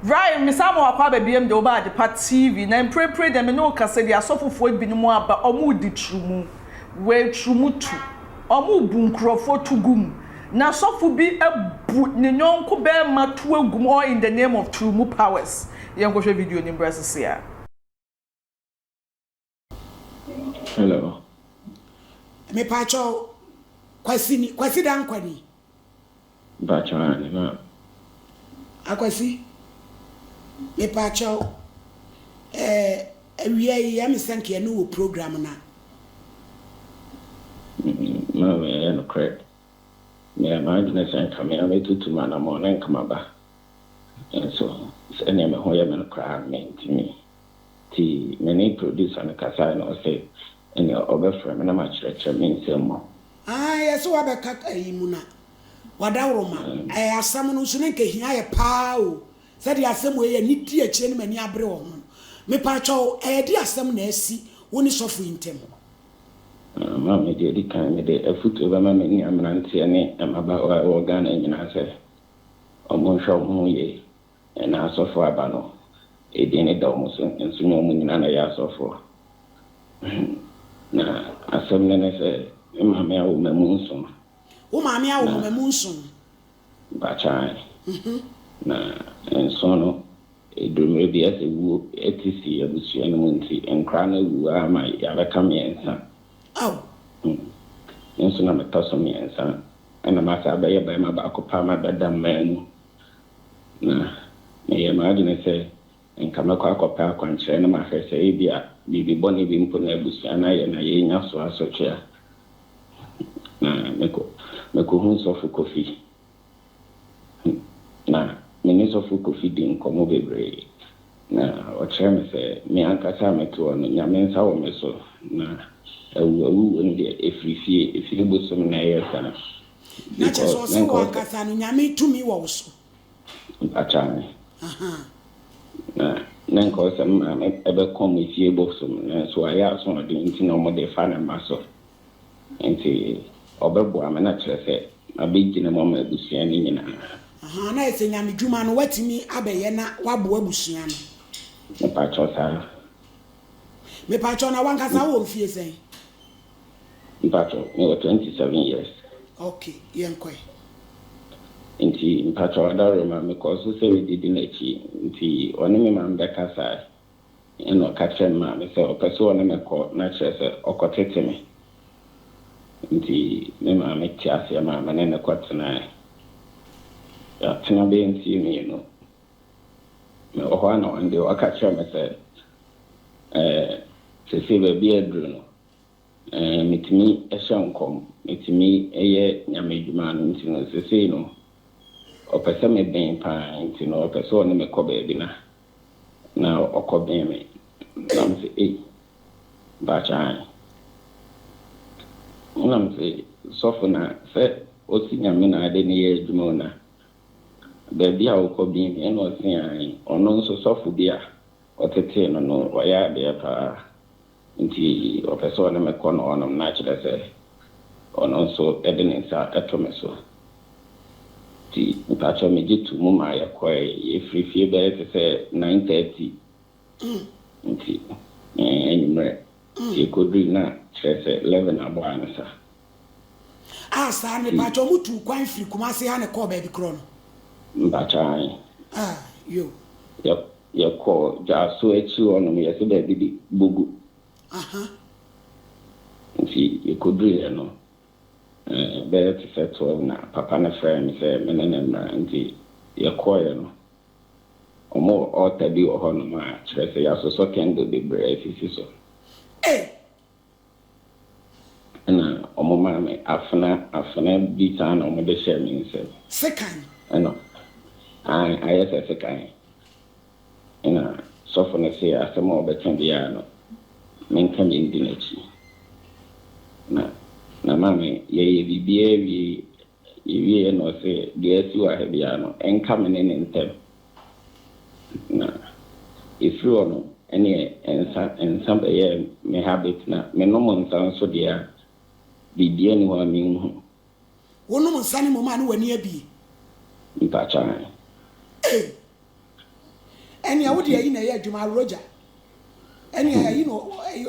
Ryan, mesan ma wakɔ aba biom de woba adepa TV na mprempren deɛ me ne wo kasa deɛ asɔfofoɔ binom aba ɔmo redi turumu wei turumu tu ɔmo bu nkurɔfoɔ tu gu mu na asɔfo bi abu ne yɔnko barima tu agu mu all in the name of turumu powers yɛnkɔhwɛ video no mbra sisi a. Hello. Me pa kyɛw kwasi ni kwasi dankwa ni. Me pa kyɛw ane ma. Akwasi me pa kyɛw eh awia yi ya me sɛnk yɛ no wɔ program na. Ma me yɛ no korɛ me yɛ ma adwene sɛ nka me ame tutu ma na mo ne nka ma ba nso sɛ neɛ me ho yɛ me no koraa me ntimi. Ntsi me nye producer no kasae na ɔse nna ɔbɛfrɛ me na makyerɛkyerɛ me nsɛm mu. Ahaa yɛse wabɛka ayi mu na wadawroma ɛɛ asɛm no nso na nka ehia yɛ paa o sɛdeɛ asɛm wei yɛ ne di akyire ne m'ani abere wɔ ho no mepaatwɔw ɛɛ de asɛm na asi wo ne sɔfo yi ntam. Ma me deɛ di kan mede afutuo bɛma me nua mmeranteɛ ne mmabaawa a ɛwɔ Ghana nyinaa sɛ wɔnhwɛ wɔn ho yie Na asɔfo aba no, edin no da wɔn so, nso na wɔn nyinaa na wɔyɛ asɔfo. Na asɛm no ne sɛ, Me maame awo mmamu nson. Wo maame awo Na, mmamu nson. mpakyɛ, ae. Na nson no, eduru mmerɛ bi a sɛ wuo te si abusua no mu nti, nkora no awu ara ma yɛabɛka mmiɛnsa. Ao! Me nso na metɔ so mmiɛnsa, ɛna masan abɛyɛ barima baako pɛ a mabɛda mmaa mu. Na meyɛɛ m'adwene sɛ anka mɛkɔ akɔpɛ akwankyerɛ na mahwɛ sɛ ebia biribi bɔne bi mpo na abusua no ayɛ na yɛrenya so asotwe a. Na mekɔ, mekohuu Sɔfo Kofi. Na me ne Sɔfo Kofi dii nkɔmmɔ bebree, na ɔkyerɛɛ me sɛ me ankasa a mete hɔ no, Nyame nsa wɔ me so, na awu awu wom deɛ, ɛfiri fie, fie bosom na ɛyɛ saa. Na kyerɛ sɛ ɔse wo ankasa no Nyame tumi wɔ wo so. Mpakyɛw me. Na na nka ɔsɛ me maame ɛbɛkɔ me fie bosom no nanso wayɛ asoɔden nti na ɔmo de fa ne mma so nti ɔbɛboa me na kyerɛ sɛ mabɛgyina mu ama abusua no nyinaa. Ahaa na ayɛ sɛ Nyame dwuma no watumi abɛyɛ na waboa abusua no. Mepakyɛw saa. Mepakyɛw na wankasa wowɔ mfie sɛn? Mpatsɔ me wɔ twenty seven years. Ok yɛn kɔ ɛ. Nti mpatsɔ ɔdaworo ma me kɔ so sɛ me di di n'akyi nti ɔne me maame bɛ kasaɛ ɛna ɔka kyerɛ me maame sɛ ɔpɛ sɛ ɔne me kɔ na kyerɛ sɛ ɔkɔ tete me nti me maame te aseɛ maa me ne no kɔ tenaɛ yatena bɛyɛ nsie mmienu Mewɔ hɔ ara na one day ɔka kyerɛɛ me sɛ, eh, seesei baabi a aduru no, eh, metumi hyɛ nkɔm, metumi yɛ Nyame adwuma no nti no, seesei no, ɔpɛ sɛ mebɛn pa ara nti no, ɔpɛ sɛ ɔne me kɔ baabi na, na ɔkɔbɛn me. Na mese, ei, mpakyɛ ahe? Na mese, sɔfo na sɛ ɔsi Nyame na ade no yɛ adwuma o na, Baabi a wokɔ bi nti na ɔse aane. Ɔno nso sɔfo bi a ɔtetee no no ɔyɛ adeɛ paa nti ɔpɛ sɛ ɔne me kɔ no hɔnom na akyerɛ sɛ ɔno nso de ne nsa to me so nti mpakyɛw megye too mu maa yɛkɔe. Yɛfirii fie bɛyɛ te sɛ nine thirty nti anwummerɛ nti yɛkɔdurii na kyerɛ sɛ eleven abɔ ansa. Ah saa ne pakyɛ ɔmo tuu kwan firi Kumasi ha ne kɔɔ baabi korɔ no. Mpakyɛ ae. Ah yo. Yɛ yɛ kɔ dwaso akyiri hɔ nom yɛse baabi de bogu. Aha. Nti yɛ kɔ duru yɛ no eh bɛyɛ te sɛ twelve na papa no frɛɛ me sɛ me ne no mmra nti yɛ kɔɔ yɛ no ɔmo wɔ altar bi wɔ hɔ nom a kyerɛ sɛ yɛ asosɔ candle bebree asisi so. Ei Ɛna wɔmaa me afena, afena bi saa na wɔde hyɛɛ me nsam. Sekan. Ɛna, ae, ayɛ sɛ sekan. Ɛna sɔfo no se asɛm a ɔbɛka biara no, menka bi ndi n'akyi. Na, na maame, yɛyɛ biribiara awie Ɔwieeɛ na ɔse, Deɛ asi wɔ ha biara no, ɛnka me ne ne ntam, na ɛfiri hɔ no ɛneɛ nsa nsa bɛyɛ me habit, na menom nsa nso deɛ a, biribiara nni hɔ a menhu. Wonom nsa no mmom a ne w'ani abue? Mpakyɛ ahe. Ei! Ɛneɛ wo deɛ ayi na ɛyɛ adwuma, aworogya. Ɛneɛ ayi na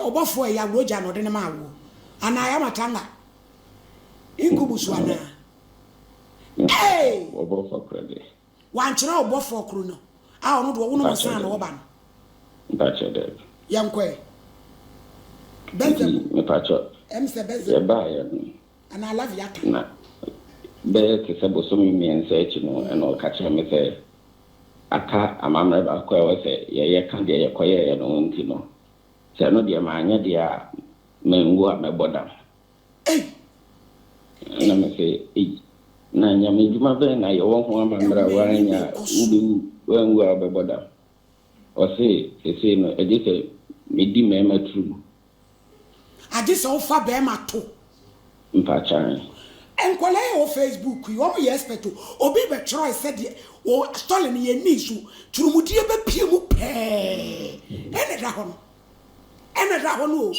ɔbɔfoɔ a ɛyɛ aworogya na ɔde no maa woɔ, anaa ɛyɛ amatanga? Nkubu so anaa? Ee! Wɔ bɔfɔ korɔ dɛ. Wankyerɛ wo bɔfɔ koro no a ɔno de ɔwono mo saa na ɔba no? Mpakyɛ daabi. Yɛnkɔ ɛ. Bɛɛdwa mu. Mepakyɛ. Ɛm sɛ bɛɛdwa. Yɛbaa yɛ no. Anaa laviata. Na bɛyɛ te sɛ bosome mmiɛnsa akyi no ɛna ɔka kyerɛ me sɛ aka amammerɛ baako a ɛwɔ sɛ yɛyɛ ka deɛ yɛkɔyɛɛ yɛ no ho nti no sɛ ɛno deɛ manyɛ deɛ a Menwu a mɛbɔ dam. Ei! Ɛnna mese, Ei! Na nyame adwuma bɛn na yɛwɔ ho amammera woannya a wobɛwu, woanwu a wobɛbɔ dam? Ɔse, Seesei no, agye sɛ medi mmarima turo mu. Agye sɛ wofa barima to. Mpakyan. Nkwadaa yi a ɛwɔ Facebook yi, wɔn yɛ expert o. Obi bɛtwerɛe sɛ deɛ wɔ story no yɛnnii so, turumudie bɛpue mu pɛɛ na ɛda hɔ no. ɛna da hɔ no o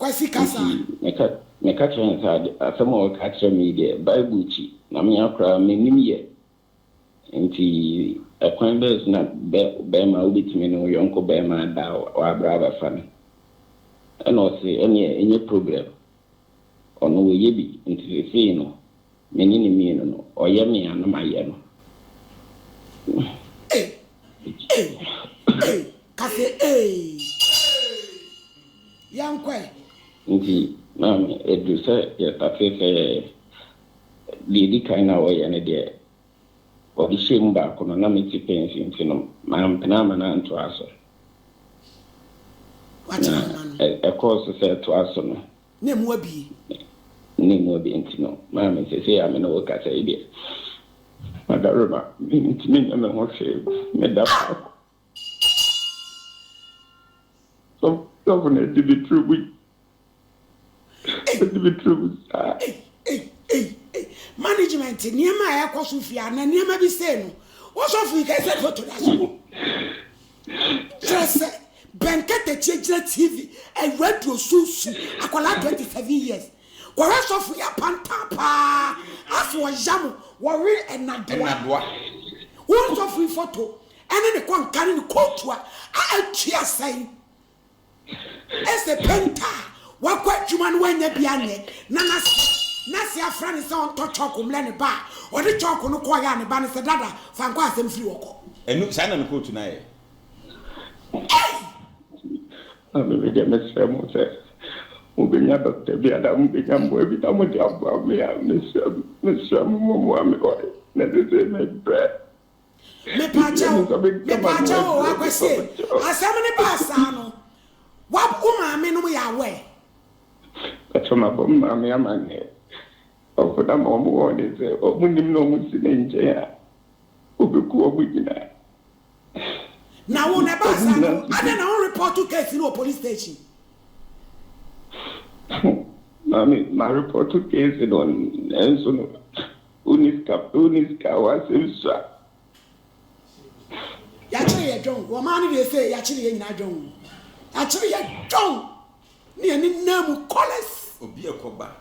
Kwasi kasa. Nti meka kyerɛ no sɛ asɛm a ɔreka akyerɛ me yi deɛ Bible akyi na me ara koraa mennim yɛ. Nti ɛkwan bɛn so na bɛrima a wobɛtumi ne wo yɔnko bɛrima ada a wabrɛ abɛfa no? Ɛna ɔse ɛneɛ ɛnyɛ problem, ɔno wayɛ bi nti seesei no Me ne no mmienu no, ɔyɛ me a na mayɛ no. Ei! Ei! Ei! Ka sɛ ei! Yɛnkɔ ɛ! Nti maame, ɛduru sɛ yɛstate sɛ yɛyɛ. Deɛ ɛdi kan no a ɔyɛ no deɛ, ɔde hyɛɛ mu baako no, na mete pɛnsi nti no, mampene amma no antoa so. Na ɛkɔɔ so sɛ ɛtoa so no, Ne mmoa bie. Ne mmoa bie nti no, maame, seesei a me ne wo kasa yi deɛ, madarema, mentumi nyɛ me ho hwee, meda faako. Sɔfo no adi me tiri mu yi, adi me tiri mu saa. Ei, ei, ei, ei, management, nneɛma a ɛrekɔ so fie a, na nneɛma bi sei no, wo sɔfo yi kasa foto da so. Kyerɛ sɛ, bɛn katakyie gyina TV, radio so su akwadaa 27 years kɔhwɛ sɔfo yɛ apantan paa aso ɔya mo wɔ we nnadoa wo nsɔfo yi foto ɛne ne kɔnka ne ne kootu a a ɛtua sɛn. Ɛsɛ painter a wakɔ adwuma no wanya bi anyɛ na n'ase n'ase afra no sɛ ɔntɔ chalk mmrɛ ne ba a ɔde chalk no kɔeɛ a ne ba no sɛ dada fa nkɔ asɛm firi hɔ kɔ. Ɛno saa na ne kootu no ayɛ. Ei! Maame me deɛ mesrɛ mo sɛ mo bɛnya doctor bi anaa mo bɛnya mmoa bi na mo de aboa me a mesrɛ mesrɛ mo mo mmoa me wae na sesei me brɛ. Mepaakyɛw, mepaakyɛw oo, Akwasi e, asɛm no baa saa no, wab, wo maame nom yɛ aware? Mpakyɛw mabɔ me maame amanneɛ, ɔfo no ama wɔn wɔɔnen sɛ wɔn nim na wɔn si ne nkyɛn a, obeku wɔn nyinaa. Na wo na ɛbaa saa no, adɛn na wo repɔɔto case no wɔ police station? Maame, ma repɔɔto case no, nanso no, Wonni sika pɛ, wonni sika a w'asɛm sua. Y'akyere yɛ dwon, wɔmaa no deɛ se y'akyere yɛ nyinaa dwon. Y'akyere yɛ dwon ne yɛn ne nan mu callers. Obi ɛkɔ ba.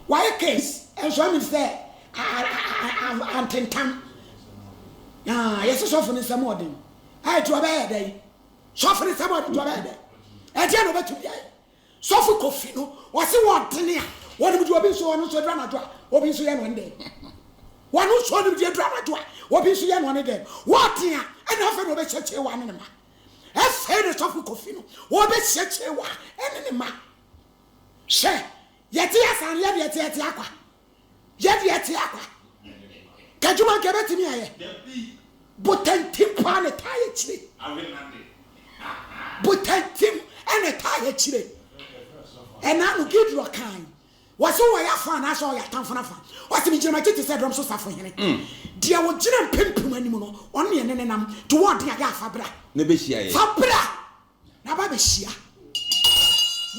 W'ayɛ case ɛnso ɛmeans sɛ antentam. Na yɛse sɔfo no nsa mu ɔden. Ɛɛ nti ɔbɛyɛ dɛn? Sɔfo no nsa mu ɔden nti ɔbɛyɛ dɛn? Ɛdeɛn na ɔbɛtumi ayɛ? Sɔfo Kofi no ɔse wɔntene a wɔnim deɛ obi nso ɔno nso aduru anadwo a obi nso yɛ no ɔne dɛn? Wɔno nso ɔnim deɛ aduru anadwo a obi nso yɛ no ɔne dɛn? Wɔte a ɛna afei na ɔbɛhyia Kyewa ne ne ma. Ɛfei na Sɔfo Kofi no ɔbɛhyia Kyewa ne ne ma. Hwɛ! Yɛte asaneɛ deɛ teatea kwa. Yɛ deɛ ɛte a kwa. Ka adwuma nka ɛbɛtumi ayɛ. Botantim paa na ɛtaa yɛ akyire. Botantim na ɛtaa yɛ akyire. Ɛna ano Gideon kaa yi. Wɔse wɔ yɛ afa anaasɛ ɔyɛ atamfo no afa. Ɔse megyina m'akyi te sɛ dɔm so safohene. Deɛ ɔgyina mpempem anim no, ɔno na yɛne no nam. To wɔn den a, yɛ a fa bra. Fa bra! Na aba abɛhyia.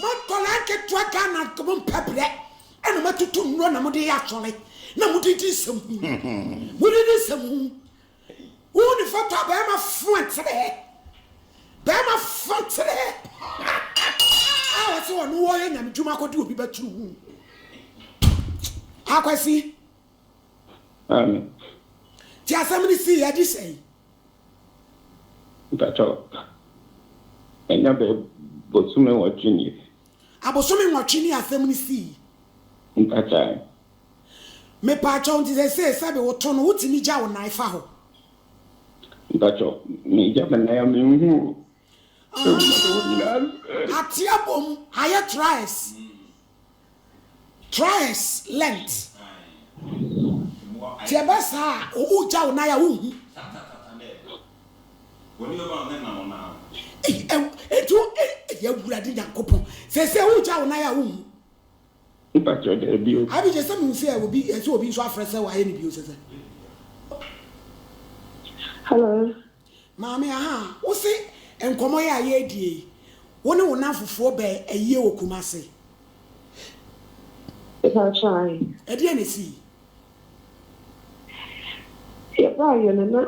Mo nkwadaa nketewa Ghana mo mpɛ brɛ ɛna mo atutu nnuro na mo de yɛ asɔre na mo de di nsɛm hu. Mo de di nsɛm hu. Wo ne foto a bɛrima fo ntere hɛ. Bɛrima fo ntere hɛ. A wɔsi wɔn wɔyɛ nyame dwuma akɔdi obi ba tiri hu. Akwasi. Amen. Ti asɛm no sii adi sɛn? Mpakyɛ ɛnya bɛ bosome nwɔtwe nie. Abosome nwɔtwe ni asɛm no sii. Mpakyɛ. Mepaakyɛw nti sesei sɛbi wo to no wotumi gya wo nan fa hɔ. Mpakyɛ me gya me nan a me nhu o. Ahaa ateɛ bom ayɛ traes. Tries lent ti ɛbɛ saa a owu gya wo nan a wo nhu. Eyi ɛw etu eyi awurade nyankopɔn sɛsɛ owu gya wo nan a wo nhu. Mepa kyɛw daabi o. Abi gyesɛ mehu sɛ obi ɛsɛ obi nso afrɛ sɛ wayɛ no bio sɛsɛ. Hello. Maame, Ahaa, wo se nkɔmmɔ yi a yɛredie yi, wo ne wo nnamfofoɔ bɛɛ ayie wɔ Kumasi? Mepakyɛ ahe? Ɛdeɛn na ɛsii? Yɛbaeɛ no na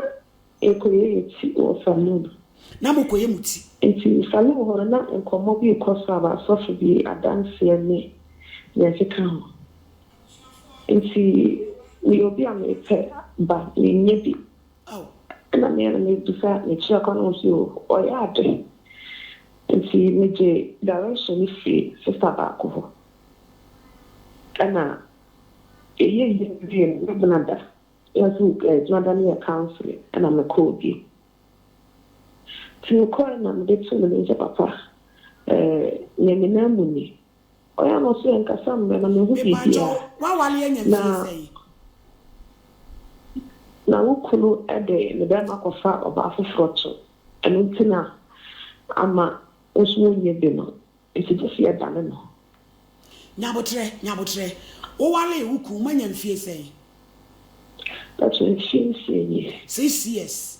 yɛrekɔyɛ yɛn ti wɔ saloon. Na morekɔyɛ mo ti? Nti saloon hɔ no na nkɔmmɔ bi rekɔ so aba asɔfo bi adanseɛ ne deɛ ɛkeka ho. Nti meyɛ obi a mepɛ ba, mennya bi. Ao! Nna me na mebisa me kyerɛkwa no ɔse o ɔyɛ ade nti megye direction no firi sister baako hɔ ɛna yɛyɛ yie wie no na Dwonada na so Dwonada no yɛ counselling ɛna mekɔɔ bio nti mekɔɔɛ na mede too me nsa papa ɛɛ nyɛ me nan mu ni. Ɔyɛ no so yɛnkasa mbrɛ na mehu biribiara. Na na wo kunu de ne barima akɔfa ɔbaa foforɔ to ɛno nti na ama wo nso wonyɛ bi no nti gye sɛ yɛdane no. Nyabotrɛ Nyabotrɛ, wowalee wo kunu moanya mfie sɛn? Mpakyɛ mfie nsia nie. Six years.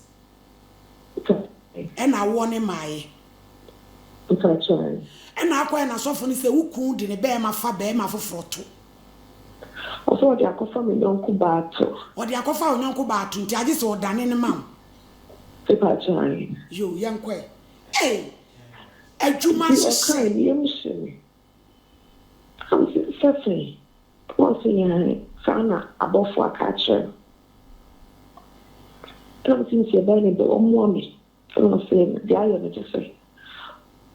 Ɔka kyerɛɛ. Ɛna awoɔ no mmaeɛ. Ɔka kyerɛɛ. Ɛna akɔyɛ n'asɔfo no sɛ wo kun de ne barima fa barima foforɔ to. Ɔsɛ ɔde akɔfa me yɔnko baa to. Ɔde akɔfa wo yɔnko baa to nti agye sɛ ɔdane no ma wo. Ɔka kyerɛɛ. Yoo yɛnkɔ ɛ. Ei! Adwuma hyehyɛ. Nti ɔkae ne yam hye me. Ɔse sɛsɛn Paul se yɛn saa na abɔfoɔ aka akyerɛ no ɛna mese mese ɛbɛyɛ ne dɛ ɔmmoa me ɛna ɔse deɛ ayɛ no kyesɛ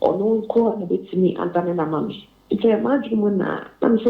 ɔno nkoa na bɛtumi adane no ama me nti ɛyɛ m'adwene mu na na mese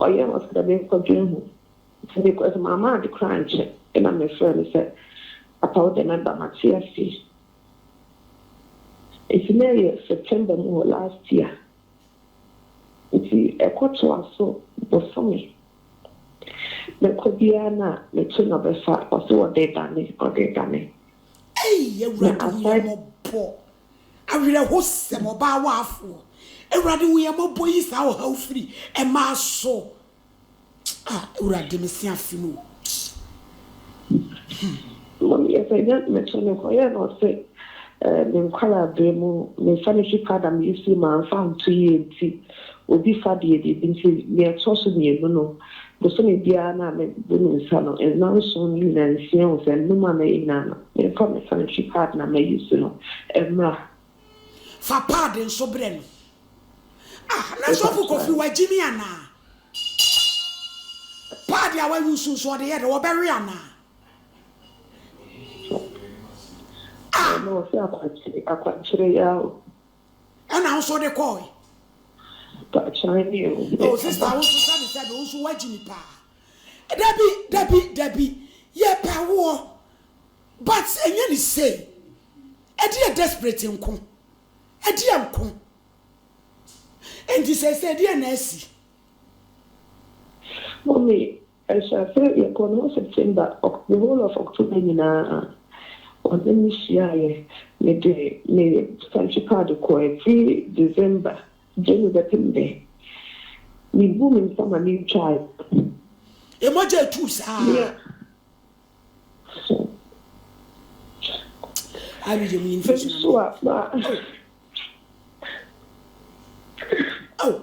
Ɔyɛɛ me ɔse dɛ menkɔdwen ho, ntsi mekɔr dze mamma adze koraa annkyɛ nna mefrɛɛ no sɛ, Apa wo dɛ mɛba, matse ase. Ntsi na yɛ September mu hɔ last year, ntsi ɛkɔtoa so bosome mekɔ biara na meto na ɔbɛfa, ɔse ɔdze redane, ɔdze redane. Ei, Awurade hu yɛn mmɔbɔ. Awerɛhosɛm, ɔbaa waafoɔ. Awurade hu yɛn mmɔbɔ yi saa ɔhaw firi mmaa so ah awurade mese afe mu hmm. Mami ɛsɛ nyɛ meto ne kɔ yɛ na ɔse eh, me nkwalaa bere mu me sanitary pad a meyusi ma anfa nto yie nti obi fa deɛ biribi nti nea ɛtɔ so mmienu no Bosome biara na mede me nsa no nna nson no nyinaa nsia hu sɛ nnum a mɛyɛ nyinaa no, memfa me sanitary pad no a ma use no mmra. Fa pad nso brɛ no. Ah, na sɔfo Kofi wagye me anaa? Pad a wa use nso ɔde yɛ dɛ, wɔbɛwe anaa? Ah! Mama ɔse akwankyere, akwankyere yaa o. Ɛna wo nso wode kɔɔe. Mpakyɛw ni o. Oh sister wo nso sɛbi sɛbi wo nso wagye ni paa. Dabi dabi dabi yɛpɛ woɔ but ɛnyɛ ni sei. Ɛdeɛ desperate nko. Ɛdeɛ nko. Nti seisei deɛ na asi. Mummy Ahyɛase yɛkɔɔ no hɔ September, the whole of October nyinaa ɔne me hyiaeɛ. Mede me santry pad kɔeɛ firi December, January bɛpem dɛ. Mebuu me nsa ma me ntwaaeɛ. Mmɔgya retu saa. Yeah. I read your meaning for Mem so a ma. Oh. Oh.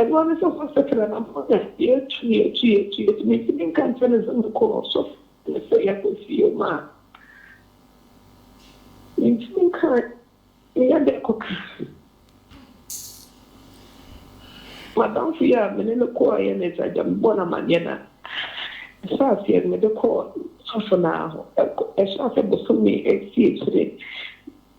Ɛno ne sɛ wɔasakyera na ama yɛn adeɛ atu yɛn atu yɛn atu yɛn atu. Mentumi nka nkyerɛ no sɛ mekɔ ɔsɔfo ne sɛ yɛakɔ fie mu a, mentumi nka meyɛ dɛn kɔka. M'adamfo yi a me ne no kɔeɛ no, sɛ agya mebɔɔ no amanneɛ no a, ɛhyɛɛ aseɛ no mede kɔɔ ɔsɔfo no ara hɔ. Ɛhyɛɛ aseɛ bosome asia akyire.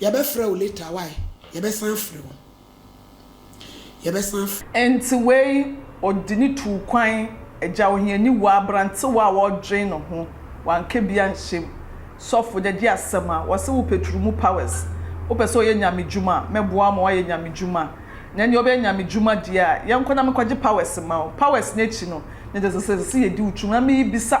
Yɛbɛfrɛ wo later wai yɛbɛsan afrɛ wo yɛbɛsan afrɛ. Enti wei ɔde ne tuu kwan agya ohiani wɔ abrantewa a ɔdwen ne ho wanka bi anhyɛ mu sɔfo dɛ gye asɛm a wɔse wo petru mu powers wopɛ sɛ ɔyɛ nyame dwuma a mɛboa wo ma woayɛ nyame dwuma na nea ɔbɛyɛ nyame dwuma deɛ a yɛnkɔ na menkɔgye powers mma wo powers no akyi no ne de sesesese yɛdi wo twum na merebisa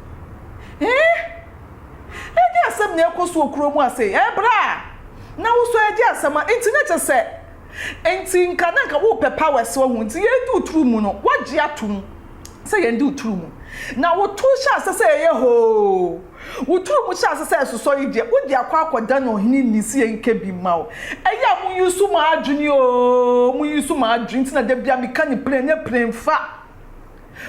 Eeh! Ɛnyɛ asɛm nea ɛrekɔ so wɔ kurow mu ha sei, ɛɛ bra a na wo nso ɛregye asɛm a, enti na kyerɛ sɛ, enti nka na nka worepɛ powers wahu, enti yɛredi wo turo mu no, woagye atom sɛ yɛn de wo turo mu, na wo to hyɛ aseɛ sɛ ɛyɛ hoo, wo turo mu hyɛ aseɛ sɛ ɛsosɔ yi deɛ, wode akɔ akɔda no ɔhene ni sɛ yɛnkɛ bi mma wo, ɛyɛ a mo use mo adwene oo, mo use mo adwene, enti na da biara meka no plen, ɛnyɛ plen fa.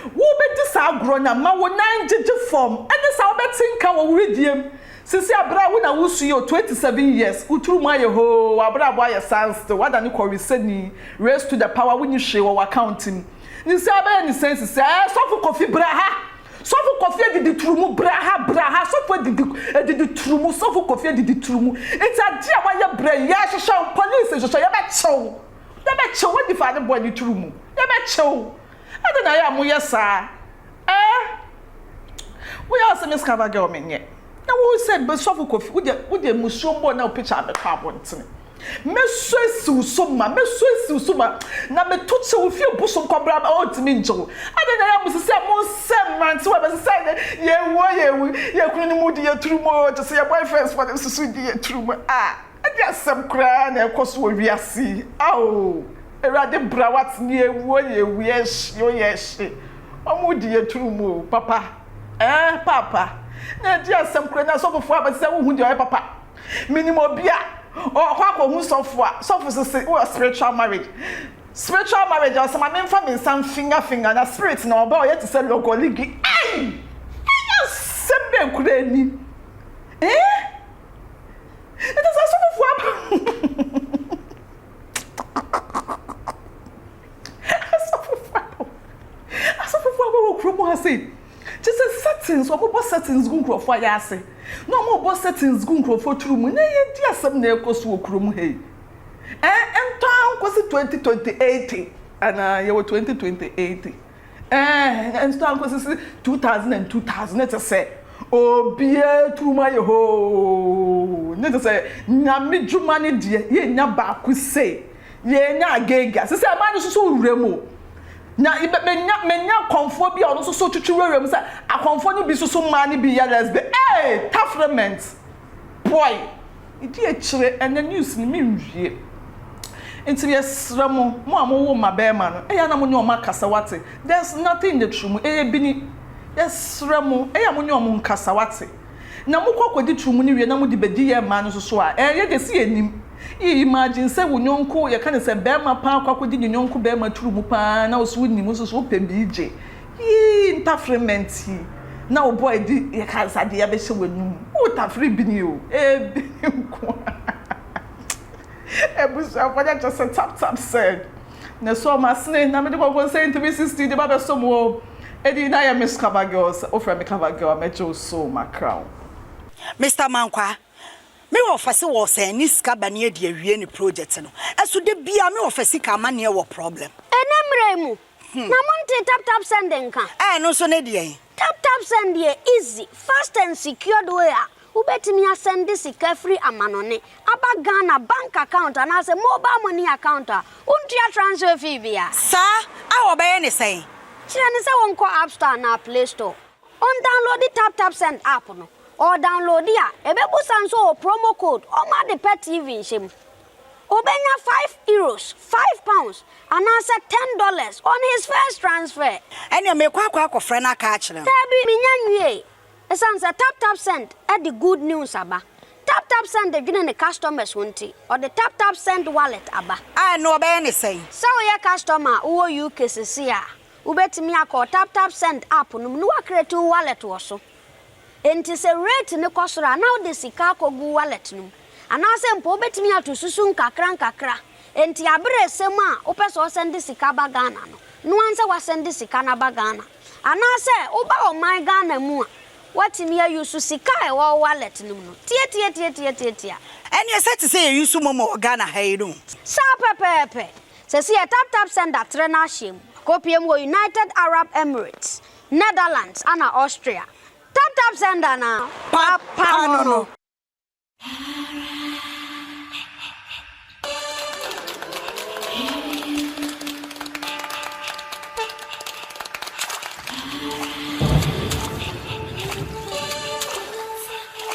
Wubedi saa agorɔ no a, ma wo nan gyegye fam. Ɛnde saa wobɛte nka wɔ wo wedeɛ mu. Seesei a bere a wo na wusu yi o, twenty seven years, wo tiri mu ayɛ hoo, w'abrabɔ ayɛ sanstill, woadane kɔwesani, race to the power, wunni hwee wɔ w'account mu. Ne saa bɛyɛ ne sɛn seesei? Ɛɛ, Sɔfo Kofi, bra ha! Sɔfo Kofi Adiditurumu, bra ha, bra ha! Sɔfo Adidi, Adiditurumu, Sɔfo Kofi Adiditurumu, enti adeɛ a woayɛ bra yi, yɛrehwehwɛ wo, police nhwehwɛ, yɛbɛkye wo, yɛbɛkye wo, w'adi faa ne boɔ ne turumu, yɛbɛkye wo. Adɛn na ɛyɛ a moyɛ saa? Ɛɛ! Woyɛ a sɛ me Scava girl menyɛ. Na wo sɛ Sɔfo Kofi, wo deɛ, wo deɛ mmusuo mpo na wo pikya bɛkɔ abɔntene. Mɛsu asi wo so ma, mɛsu asi wo so ma, na meto kyɛ wo fie bosom kɔ bra a ɔntumi nngye wo. Adɛn na ɛyɛ a mosisi a monsɛ mmerantewa bɛ sɛ sɛ ɛnnɛ yɛwuo, yɛwu, yɛn kunu no mu di yɛn turumo oo, gye sɛ yɛn boyfriends fɔ no nso so di yɛn turumo a. Ɛdeɛ asɛm koraa na ɛrekɔ so wɔ wiase yi ao awurade bra wate neɛ awuo yɛ awuo ɛhyeɔ yɛ ɛhye wɔn redi yɛ turu mu o papa ɛɛ paapa na ɛdeɛ asɛm koraa na sɔfofoɔ abɛte sɛ wohu deɛ ɔyɛ papa menim obi a ɔkɔ akɔhu sɔfo a sɔfo sese wɔ spiritual marriage spiritual marriage a ɔsɛ ma memfa me nsa mfinga finga na spirit na ɔba ɔyɛ te sɛ lɔgɔligi ai ɛyɛ asɛm bɛn koraa ni eh Ɛte sɛ asɔfofo aba. Asɔfofo aba. Asɔfofo aba wɔ kurom ha sei. Kyɛ sɛ settings, wɔbɔ settings gu nkurɔfoɔ ayɛ ase. Na wɔbɔ settings gu nkurɔfoɔ turu mu. Nyɛ yɛdi asɛm na ɛkɔ so wɔ kurom ha yi. Ɛn, ɛntɔ ara nkɔsi 2028 anaa yɛwɔ 2028. Ɛɛ, ɛnso anko sisi 2000 and 2000 ne te sɛ obiara turum ayɛ hoo. Ne te sɛ nyame dwuma ne deɛ yɛnya baako sei yɛnya agega sisi ɛma no soso wura mu. Na menya menya akɔmfoɔ bi a ɔno soso twitwi wura mu sɛ akɔmfoɔ no bi soso mmaa no bi yɛ lesbian. Ɛɛ, tafrement. Boy di akyire ɛnɛ news no me nwie nti me srɛ mo mo a mo wo mma bɛɛma no ɛyɛ a na mo ne ɔmo akasa wate there's nothing in the true mu ɛyɛ bini yɛ srɛ mo ɛyɛ a mo ne ɔmo nkasa wate na mo kɔ kɔ di true mu no wie na mo de bɛ di yɛ mmaa no nso so a ɛɛ yɛ deɛ si yɛ nim yɛ imagine sɛ wo nyɔnko yɛ ka ne sɛ bɛɛma paa kɔ akɔ di ne nyɔnko bɛɛma true mu paa na wo so wo nim wo nso so wo pɛ bigye Yii ntafere ma nti na wo boy di yɛka nsa de abɛhyɛ w'anum wo tafere bini o ebini nko ara abusuafoɔ no kyɛ sɛ tap tap said na so ɔmo asene na mede kɔkɔ nsɛn three sixty de ba bɛsɔ mu o ɛdi na yɛ miss cover girl sɛ wofrɛ me cover girl a mɛgye wo so o makra wo. Mister Mankwaa, me wɔfa se wɔ sɛn ne sika ba ne adi awie ne project no, ɛso da biaa me wɔfa sika amaneɛ wɔ problem. Ɛnɛ mmerɛ yi mu, Na montee tap tap send nka? Ɛɛ ɛno nso ne deɛn? Tap tap send yɛ easy, fast and secured way a wobɛtumi asɛnde sika firi amanɔne aba Ghana bank account anaasɛ mobile money account a wontua transfer fee biara. Saa a wɔbɛyɛ ne sɛn? Kyerɛ no sɛ wɔnkɔ app store anaa play store, ɔndownloadi tap tap send app no, ɔɔdownloadi a ɛbɛbusa nso ɔɔ promo code ɔma ade pa TV nhyɛ mu. Obenya five euros, five pounds, anaasɛ ten dollars on his first transfer. Ɛnneɛ meekɔ akɔ akɔfrɛ no aka akyerɛ no. Daabi, mennya nwiei. Esiane sɛ TapTapSend de good news aba, TapTapSend dwene ne customers ho nti, ɔde TapTapSend Wallet aba. A, ɛnneɛ wɔbɛyɛ no sɛn? Sɛ woyɛ customer a wowɔ UK seesei a, wobɛtumi akɔ TapTapSend app no mu na woacreate wo wallet wɔ so. Enti sɛ rate no kɔ soro a, na wode sika akɔgu wallet no mu. Anaasɛ mpo wobɛtumi ato susu nkakrankakra. Enti aberɛ resɛm a wopɛ sɛ ɔsɛnde sika ba Ghana no, noa nsɛ woasɛnde sika no aba Ghana. Anaasɛ woba ɔman Ghana mu a, woatumi a use sika a ɛwɔ wo wallet no mu no. Tiatiatiatiatiatia. Ɛneɛ sɛ te sɛ yɛ use momo wɔ Ghana ha yi no. Saa pɛpɛɛpɛ. Seesei yɛ taptapsend atrɛ no ahyɛm. Akɔpie mu wɔ United Arab Emirates. Netherlands ana Austria? Tap tap send ana papa no no.